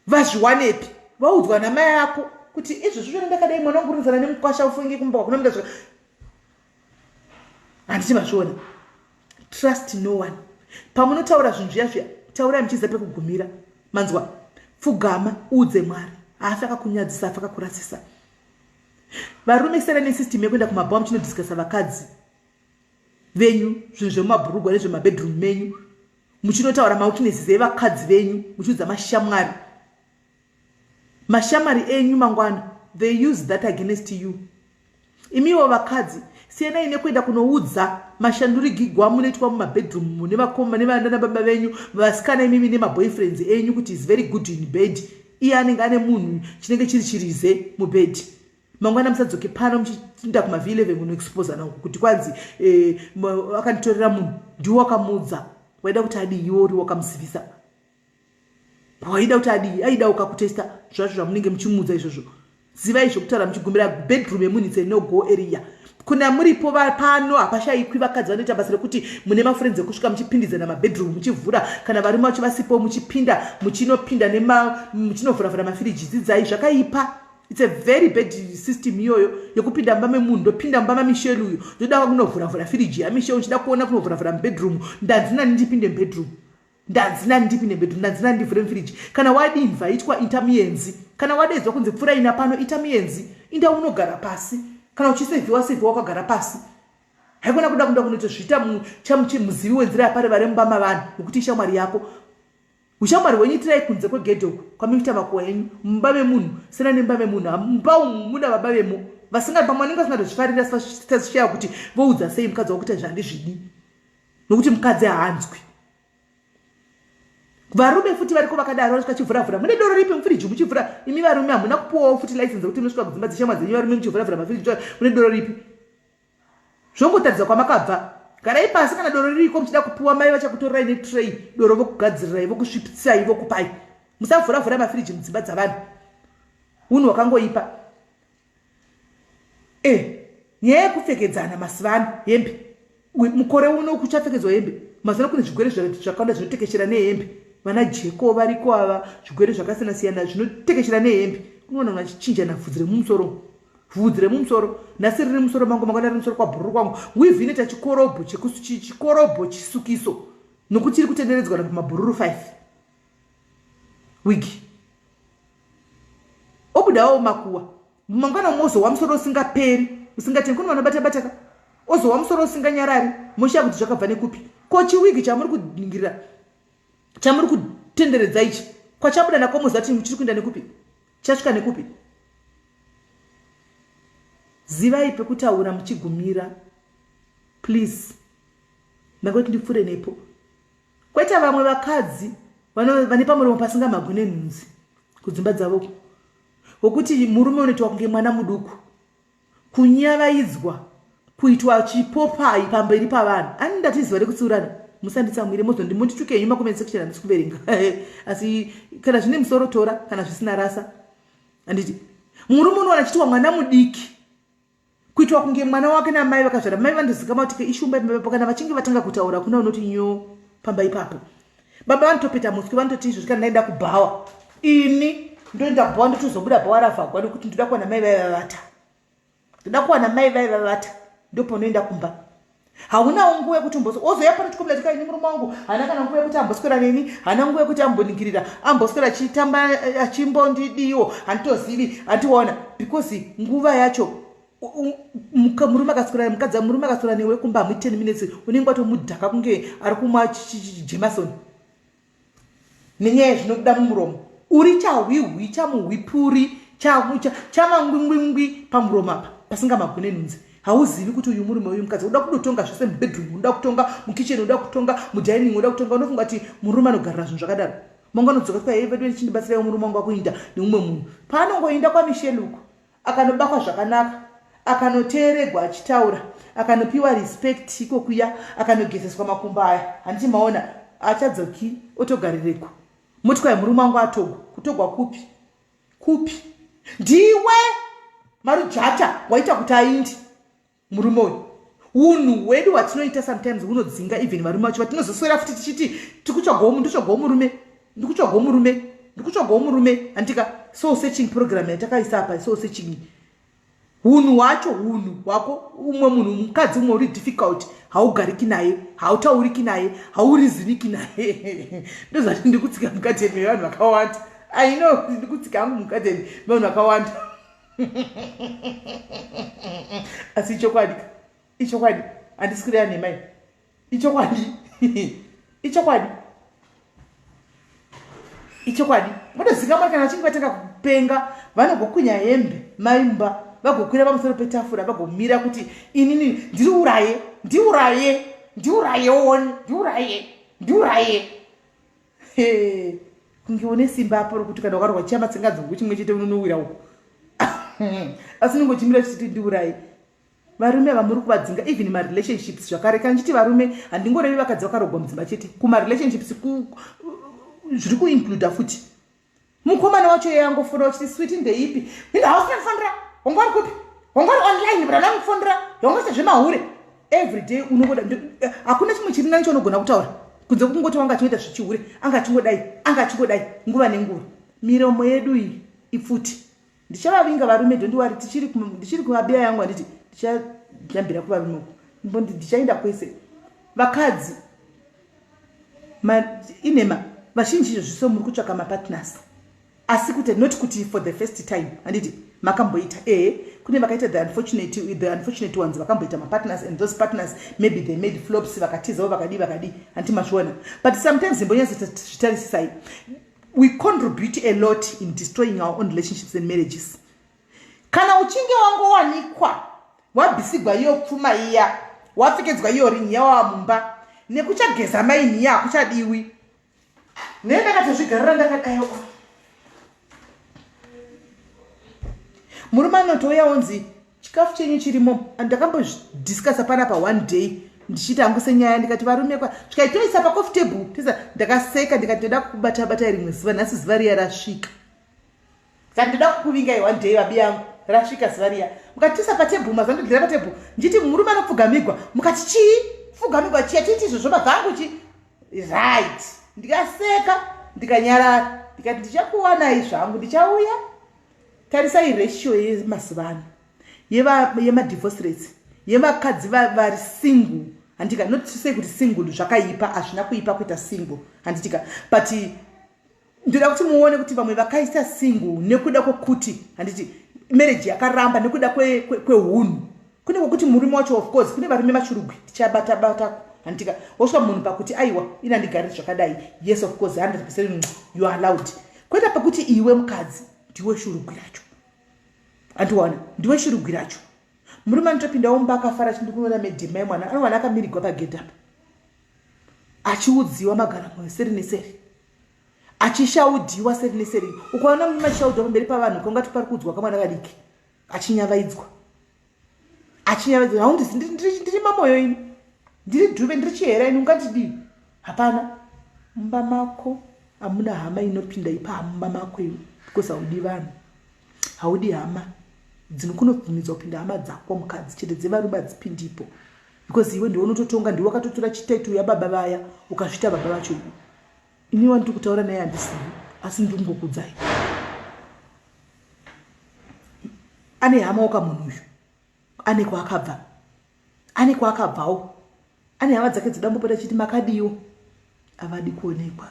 vazviwanepi vaudzwa namai yako kuti izvozvo zvona ndakadai mwana wangu rinzana nemukwasha ufunge kumba wakunomuda zvaka handiti mazviona trust no one pamunotaura zvinhu zviya zviya taurai muchiziva pekugumira manzwa pfugama uudze mwari haafi akakunyadzisa afi akakurasisa varume sere nesystem yekuenda kumabhawa muchinodiscasa vakadzi venyu zvinhu zvemumabhurugwa nezvemabedroom menyu muchinotaura maukinesis evakadzi venyu muchiudza mashamwari Mashamari enyu mangwana they use that against you. Imiwo vakadzi siyanai nekuenda kunoudza mashandurigigwa munoitwa mumabedroom mune vakoma nevana baba venyu vasikana imimi nemaboyfriends enyu kuti is very good in bed iye anenge ane munhu chinenge chiri chirize mubed mangwana musadzoke pano muchiinda kumav 11 munoexposana uku kuti kwanzi eh, akanditorera munhu ndiwo wakamudza waida kuti adii iwo uri wakamusivisa waida kuti adii aida ukakutesta zvacho zvamunenge muchimuudza izvozvo zivai zvekutaura muchigumbira bedroom yemunhu itse no go area kuna muripo pano hapashayikwi vakadzi vanoita basa rekuti mune mafrenzi ekusvika muchipindidzana mabedroom muchivhura kana varume vacho vasipo muchipinda muchinopinda muchinovhuravhura mafiriji dzidzai zvakaipa its a very bad system iyoyo yekupinda mumba memunhu ndopinda mumba mamishel uyu ndoda kunovhuravhura firiji yamishel uchida kuona kunovhuravhura mubedroom ndanzinani ndipinde mubedroom ndanzi nandipi nebedru ndanzi nandivhure mfiriji kana wadinva itwa ita muyenzi kana wadedzwa kunzi pfura ina pano ita muyenzi inda unogara pasi kana uchisevhiwa sevhiwa kwagara pasi haikona kuda kuda kunotozviita muzivi wenzira yapare vari mumba mavanhu nokuti ishamwari yako ushamwari hwenyu itirai kunze kwegedhe uku kwamikuita makuwa enyu mumba memunhu sena nemumba memunhu mumba umu muna baba vemo vasingadi pamwe vanenge vasingatozvifarira sitazishaya kuti voudza sei mukadzi wakuita zvandizvidi nokuti mukadzi haanzwi varume futi variko vakadaro vanosvika chivhuravhura mune doro ripi mufiriji muchivhura imi varume hamuna kupuwawo futi license yekuti munosvika kudzimba dzeshamwa dzenyu varume muchivhuravhura mafiriji mune doro ripi zvongotaridza kwamakabva garai pasi kana doro ririko muchida kupiwa mai vachakutorirai netray doro vokugadzirirai vokusvipitsai vokupai musavhuravhura mafiriji mudzimba dzavanhu unhu hwakangoipa Eh, nyaya yekupfekedzana masivano hembe mukore uno kuchapfekedzwa hembe mazana kune zvigwere zvakawanda zvinotekeshera nehembe vana jeko variko ava zvigwere zvakasiyana siyana zvinotekeshera nehembe unoona vanhu vachichinjana vhudzi remumusoro vhudzi remumusoro nhasi riri musoro mangu mangwana riri musoro kwabhururu kwangu wivhi inoita chikorobho chikorobho chisukiso nokuti iri kutenderedzwa na pamabhururu five wigi obudawo makuwa mangwana mozowa musoro usingaperi usingateni kune vanobata bataka ozowa musoro usinganyarari moshiya kuti zvakabva nekupi ko chiwigi chamuri kuningirira chamuri kutenderedza ichi kwachabuda nako moziva kuti muchiri kuenda nekupi chasvika nekupi zivai pekutaura muchigumira please ndangoti ndipfuure nepo kwete vamwe vakadzi vane pamuromo pasingamagwi nenhunzi kudzimba dzavo wokuti murume unoitwa kunge mwana muduku kunyavaidzwa kuitwa chipopai pamberi pavanhu ani ndati ziva rekutsiurana musanditsamwire mozondi mundituke henyu makomeni section handisi kuverenga asi kana zvine musoro tora kana zvisina rasa handiti murume unowana chiitwa mwana mudiki kuitwa kunge mwana wake namai vakazvara mai vandozikama kuti keishumba ipapo kana vachinge vatanga kutaura kuna unoti nyo pamba ipapo baba vanotopeta muswi vanototi izvozvi kana ndaenda kubhawa ini ndoenda bhawa ndotozobuda bhawa ravhagwa nekuti ndoda kuwana mai vaivavata ndoda kuwana mai vaivavata ndoponoenda kumba haunawo nguva yekuti umboso ozoya pano tikomira tika ini murume wangu haana kana nguva yekuti amboswera neni haana nguva yekuti amboningirira amboswera achitamba eh, achimbondidiwo handitozivi handiona because nguva yacho murume akaswera mukadzi murume akaswera newe kumba hamuiti ten minutes unenge watomudhaka kunge ari kumwa jemasoni nenyaya zvinobuda mumuromo uri chahwihwi chamuhwipuri chamangwingwingwi pamuromo apa pasinga magone nhunzi hauzivi kuti uyu murume uyu mukadzi uda kudotonga zvese mubedroom unoda kutonga mukitchen unoda kutonga mudining unoda kutonga unofunga kuti murume anogarira zvinhu zvakadaro manga anodzoka kuaivedu ndichindibatsiraiwo murume wangu akuinda neumwe munhu paanongoinda kwamisheluko akanobakwa zvakanaka akanoteeregwa achitaura akanopiwa respect iko kuya akanogezeswa makumbo aya handiti maona achadzoki otogarireku motikayi murume wangu atogwa kutogwa kupi kupi ndiwe marujata waita kuti aindi murume uyu unhu hwedu hwatinoita sometimes hunodzinga even varume vacho vatinozoswera futi tichiti tikutsvagawo ndotsvagawo murume ndikutsvagawo murume ndikutsvagawo murume handika soul searching program yatakaisa apa soul searching hunhu hwacho hunhu hwako umwe munhu mukadzi umwe uri difficult haugariki naye hautauriki naye hauriziriki naye ndozvati ndikutsika mukadzi yedu mevanhu vakawanda i know ndikutsika hangu mukadzi yedu mevanhu vakawanda asi ichokwadi ichokwadi handisi kureya nhema i ichokwadi ichokwadi ichokwadi munozika mwana kana vachinge vatanga kupenga vanogokwinya hembe maimba vagokwira pamusoro petafura vagomira kuti inini ndiuraye ndiuraye ndiuraye one ndiuraye ndiuraye Hey, kunge une simba apo rokuti kana ukarwa chiyamba tsingadzungu chimwe chete unonowira uko asi nongochimira chichiti ndiurai varume vamuri kuvadzinga even marelationships zvakare kana ndichiti varume handingorevi vakadzi vakarogwa mudzimba chete kumarelationships zviri kuincluda futi mukomana wacho iye angofona wachiti switi ndeipi ino hausi nekufonera wanga uri kupi wanga uri online but ana kufonera wanga usina zvemahure every day unongoda eh, hakuna chimwe chiri nani chaunogona kutaura kunze kukungoti wanga achingoita zvichihure anga achingodai anga achingodai nguva nenguva miromo yedu iyi ipfuti ndichavavinga varume don't worry tichiri ndichiri kumabiya yangu anditi ndichajambira kuvarume uku mbondi ndichaenda kwese vakadzi inema vazhinji izvo zviso muri kutsvaka mapartners asi kuti not kuti for the first time anditi makamboita ehe kune vakaita the unfortunate the unfortunate ones vakamboita mapartners and those partners maybe they made flops vakatizawo vakadii vakadii anditi mazviona but sometimes imbonyatsozvitarisisai we contribute a lot in destroying our own relationships and marriages kana uchinge wangowanikwa wabhisigwa iyo pfuma iya wapfekedzwa iyo ringi yawava mumba nekuchageza maini iya hakuchadiwi ne ndakatozvigarira ndakadayo murume anotouya onzi chikafu chenyu chirimo ndakambodiscusa panapa one day ndichiti hangu senyaya ndikati varume kwa tikaitoisa pacofi table tisa ndakaseka ndikati ndoda kukubata bata rimwe zuva nhasi zuva riya rasvika saka ndoda kukuvingai one day vabi yangu rasvika zuva riya mukatisa patable mazuva ndodira patable ndichiti murume anopfugamigwa mukati chii pfugamigwa chiya tiiti izvozvo mazangu chi right ndikaseka ndikanyarara ndikati ndichakuwanai zvangu ndichauya tarisai ratio yemazuva ano yemadivorce rates yevakadzi vari single handitika not to say kuti single zvakaipa hazvina kuipa kuita single handitika but ndoda kuti muone kuti vamwe vakaisa single nekuda kwekuti handiti marriage yakaramba nekuda kweunhu kwe, kwe kune kwekuti murume wacho of course kune varume vachirugwi tichabata bata handitika wosvika munhu pakuti aiwa ini handigariri zvakadai yes of course 100 percent you are allowed kweta pakuti iwe mukadzi ndiwe shurugwi racho andiwana ndiwe shurugwi racho murume anotopinda womba akafara chindi kunoona medhima yemwana anowana akamirigwa pagedhe apa achiudziwa magara moyo seri neseri achishaudiwa seri neseri ukaona murume achishaudiwa pamberi pavanhu ukaungati pari kuudzwa kamwana kadiki achinyavaidzwa achinyavaidzwa haundisi ndiri mamoyo ini ndiri dhube ndiri chihera ini ungatidii hapana mumba mako hamuna hama inopinda ipa hamumba mako iwe because haudi vanhu haudi hama dzinokunobvumidzwa kupinda hama dzako mukadzi chete dzevarume hadzipindipo because iwe ndiwe unototonga ndiwe wakatotora chitaiti uya baba vaya ukazvita baba vacho iwe ini wandiri kutaura naye handisivi asi ndiri kungokudzai ane hama waka munhu uyu ane kwaakabva ane kwaakabvawo ane hama dzake dzodambopota chiti makadiwo avadi kuonekwa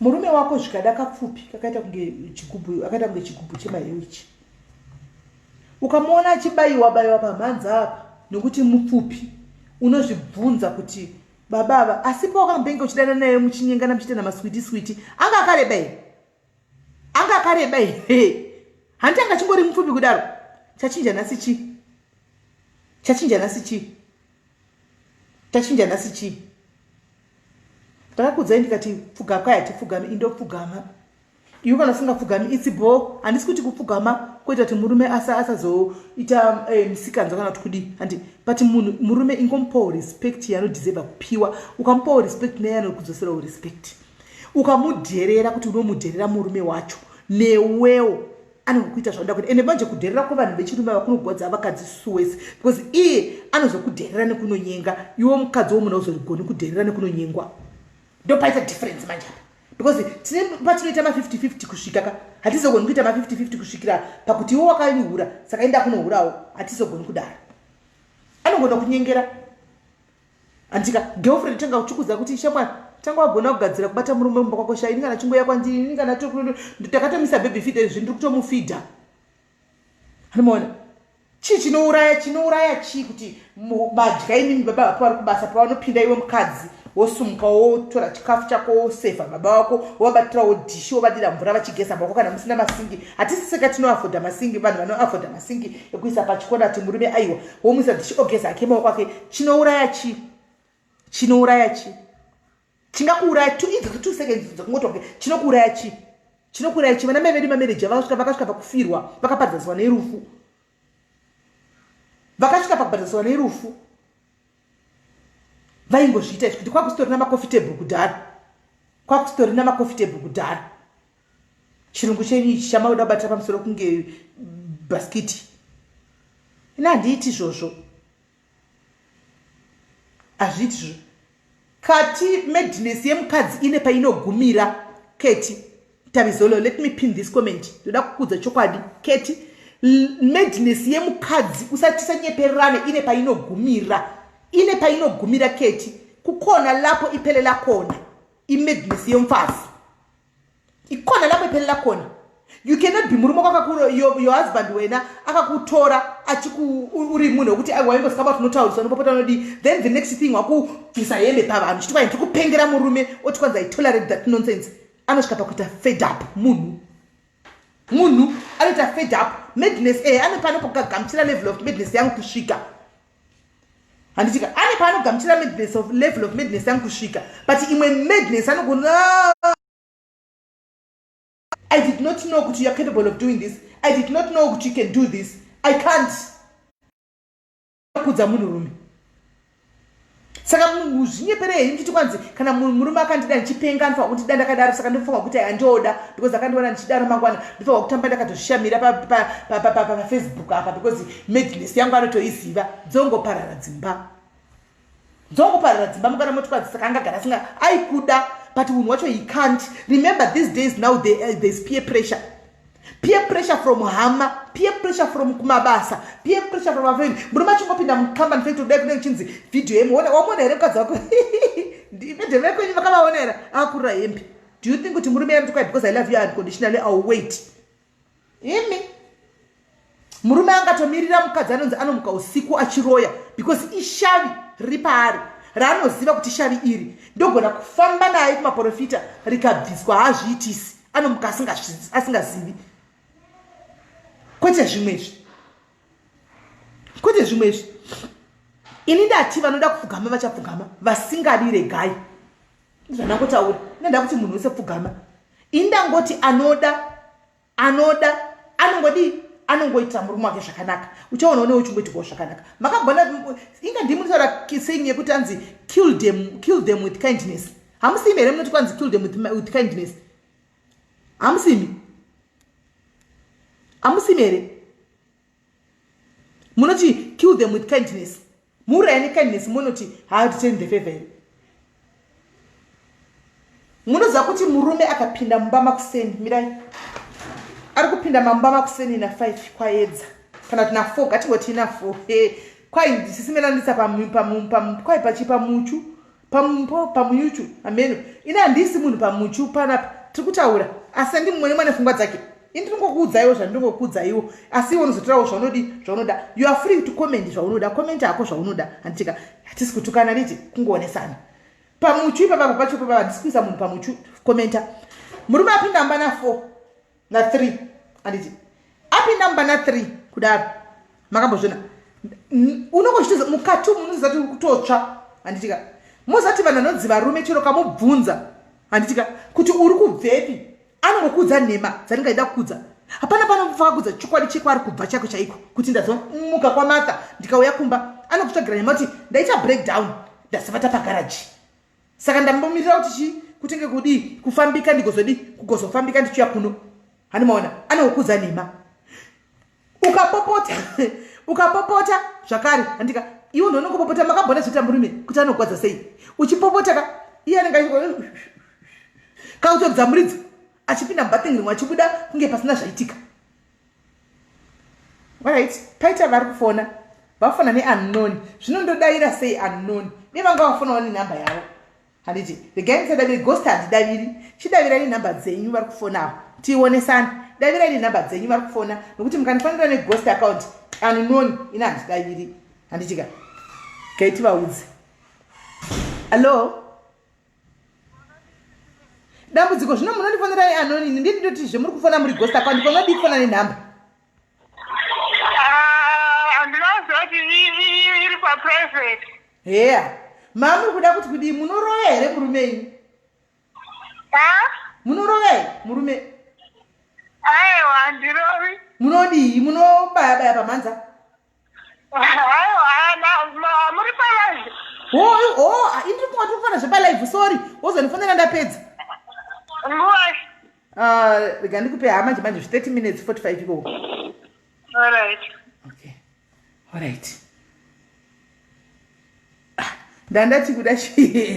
murume wako zvikada kapfupi kakaita kunge chigubhu akaita kunge chigubhu chemahewu ichi ukamuona achibayiwa bayiwa pamhanza apa nokuti mupfupi unozvibvunza kuti baba ava asi pawakambenge uchidana naye muchinyengana muchiita namaswiti switi anga akareba here anga akareba here hanti anga chingori mupfupi kudaro chachinja nhasi chii chachinja nhasi chii chachinja nhasi chii ndakakudzai ndikati pfugapwai hatipfugami indopfugama iwe kana usingapfugami itsi bho handisi kuti kupfugama kwoita kuti murume asazoita eh, misikanzwa kana kuti kudii handi but munhu murume ingomupawo respect yaanodiseva kupiwa ukamupawo respect neye anokudzoserawo respect ukamudherera kuti unomudherera murume wacho newewo anokuita zvaunoda kuita ende manje kudherera kwevanhu vechirume ava kunogwadza vakadzi suwese because iye anozokudherera nekunonyenga iwo mukadzi womunhu auzorigoni kudherera nekunonyengwa ndopaita difference manje apa because tine patinoita ma50 50 kusvika ka hatizogoni kuita ma50 50 kusvikira pakuti iwo wakainihura saka enda kunohurawo hatizogoni kudaro anogona kunyengera handika girlfriend tanga uchikudza kuti shamwari tanga wagona kugadzira kubata murume mumba kwako sha ini kana chingoya kwandii ini kana takatomisa baby fida izvi ndiri kutomufidha Mona chii chinouraya chinouraya chii kuti badya imimi baba vako vari kubasa pavanopinda iwe mukadzi wosumuka wotora chikafu chako wosevha baba wako wovabatirawo dhishi wovadira mvura vachigeza mako kana musina masingi hatisi seka tinoafodha masingi vanhu vanoafodha masingi ekuisa pachikona ti murume aiwa womuisa dhishi ogeza ake maoko ake chinouraya chii chinouraya chii chingakuuraya tu idzi two seconds dzokungotoke chinokuuraya chi chinokuuraya chi vana mai vedu mamaneja vakasvika vakasvika pakufirwa vakaparadzaswa nerufu vakasvika pakubhadhaswa nerufu vaingozviita izvi kuti kwakusitori namacoffitable kudhara kwakusitori namacoffitable kudhara chirungu chenyu ichi chamauda kubatira pamusoro kunge bhaskiti ini handiiti izvozvo hazvitizvo kati madness yemukadzi ine painogumira keti tabizolo let me pin this comment ndoda kukudza chokwadi keti madness yemukadzi usatisanyepererane ine painogumira ine painogumira keti kukona lapo ipele lakona imadness yemfazi ikona lapepelela kona you cannot be murume kwakakuro your, your husband wena akakutora achiuri munhu wekuti waingosika bati unotauriswa nopopota unodii then the next thing wakubvisa hembe pavanhu chiti kwai ndiri kupengera murume oti kwanzi itolerate that nonsense anosvika pakuita fed up munhu munhu anoita fed up madness e eh, anopanopokugagamchira level of madness yangu kusvika handitika ane paanogamuchira madness of level of madness yangu kusvika but imwe madness anogona i did not know kuti youare capable of doing this i did not know kuti you can do this i can't kudza munhurume saka muzvinyepere hei muchiti kwanzi kana murume akandida ndichipenga anofaa kundida ndakadaro saka ndinofanwa kuti andioda because akandiona ndichidaro mangwana ndinofanwa kutamba ndakatozvishamira pafacebook apa because madness yangu anotoiziva dzongoparara dzimba dzongoparara dzimba mukana moti kwanzi saka angagara asinga aikuda but munhu wacho he can't remember these days now there's eh, peer pressure peer pressure from hama peer pressure from kumabasa peer pressure from afriend murume achingopinda mucompany fekti kudai kunenge chinzi vhidhiyo yemu wamona here mukadzi wako ndevekwenyu vakavaona here akurira hembe do you think kuti murume yamti kwai because i love you unconditionally au wait imi murume angatomirira mukadzi anonzi anomuka usiku achiroya because ishavi riri paari raanoziva kuti shavi iri ndogona kufamba naye kumaprofita rikabviswa haazviitisi anomuka asingazivi kwete zvimwe izvi kwete zvimwe izvi ini ndati vanoda kupfugama vachapfugama vasingadi regai zvandangotaura inda kuti munhu wese pfugama ini ndangoti anoda anoda anongodii anongoita murume wake zvakanaka uchaona une uchingoitikawo zvakanaka makagona inga ndimi nditaura saying yekuti anzi kill them, kill them with kindness hamusimi here munoti kwanzi kill them with, with kindness hamusimi hamusimi here munoti kill them with kindness mhura yani kindness munoti haaditeni the favor here munoziva kuti murume akapinda mumba makuseni mirai ari kupinda mamumba makuseni na five kwaedza kana kuti na four ngatingoti ina four kwai ndisimelandisa kwai pachipa muchu pamumpo pamunyuchu ameno ini handisi munhu pamuchu panapa tiri kutaura asi andi mumwe nemwana fungwa dzake ini ndinongokuudzaiwo zvandinongokuudzaiwo asi iwe unozotorawo zvaunodi zvaunoda you are free to comment zvaunoda comment hako zvaunoda handitika hatisi kutukana niti kungoonesana pamuchu ipapapa pacho papa handisi kuisa munhu pamuchu commenta murume apinda ambana four na 3 anditi apinda mumba na 3 kudaro makambozvina unongochitoza mukati umu unozati uri kutotsva handitika mozati vanhu vanonzi varume chero kamubvunza handitika kuti uri kubvepi anongokuudza nhema dzandingaida kukudza hapana panomufa kudza chokwadi chekwaari kubva chako chaiko kuti ndazomuka kwamatha ndikauya kumba anokutsvagira nyama kuti ndaita breakdown ndasavata pagaraji saka ndambomirira kuti chii kutenge kudii kufambika ndigozodii kugozofambika ndichiuya kuno hani maona anokuza nhema ukapopota ukapopota zvakare handika iwo ndonokupopota makambona zvoita murume kuti anogwadza sei uchipopota ka iye anenge achi kautodza muridzo achipinda mubathing rimwe achibuda kunge pasina zvaitika right paita vari kufona vafona neunknown zvino ndodaira sei unknown ne vanga vafonawo nenumber yavo handiti regai ndisadaviri ghost handidaviri chidavirai number dzenyu vari kufonawo tiionesani davirai nenumber dzenyu vari kufona nokuti mukandifanira neghost account unknown ina handidaviri handitika gaitivaudzei Hello? dambudziko zvino munondifonera ianoni ini ndii ndoti zvemuri kufona muri gosta kwandi panodii kufona nenhamba heya ah, maa muri kuda kuti kudii munorova here murume ini munorova here murume aiwa ndirovi munodii munobayabaya pamhanza ndikungotofana zvepalive sorry wozondifonera ndapedza ah, rega ndikupe haa manje manje 30 minutes 45 ikoo okay alright ah, ndandati kuda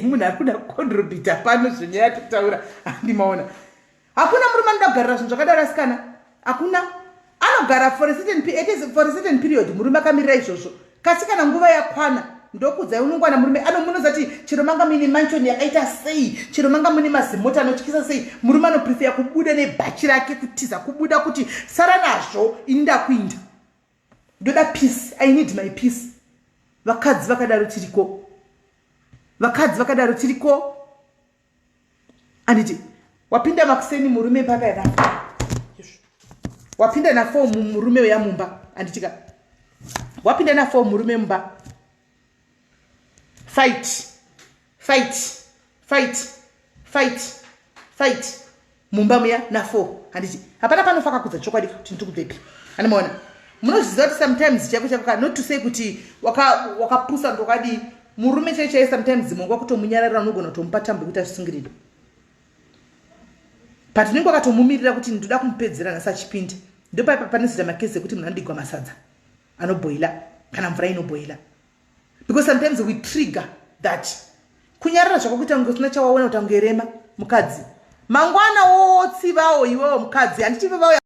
munhu ari kuda kucontribita pano zvenyaya tikutaura handimaona hakuna murume anoda kugarira zvinhu zvakadaro asikana hakuna anogara for a certain, it is for a certain period murume akamirira izvozvo kasi kana nguva yakwana ndokudzai unongwana murume anomunoza ti chero manga muine manchon yakaita sei chero manga muine mazimota anotyisa sei murume anoprefeya kubuda nebhachi rake kutiza kubuda kuti sara nazvo ini ndakuinda ndoda peace i need my peace vakadzi vakadaro tiriko vakadzi vakadaro tiriko anditi wapinda makuseni murume mpaka yaka wapinda nafo murume uya mumba anditika wapinda nafo murume mumba fight fight fight fight fight mumba muya nafour handiti hapana panofa kakudza chokwadi kuti ndiri kubvepi andimaona munozviziva kuti sometimes chako chako ka not to say kuti wakapusa waka ndokadii murume chai chai sometimes mongo wakutomunyararira unogona kutomupa tambo yekuti azvisungirire but unenge wakatomumirira kuti ndoda kumupedzera nhasi achipinda ndopaipa pane zita makezi ekuti munhu anodigwa masadza anobhoila kana mvura inobhoila because sometimes we trigger that kunyarara zvako kuita kunge usina chawaona kuti angerema mukadzi mangwana wotsivawo iwewo mukadzi handiti vevauya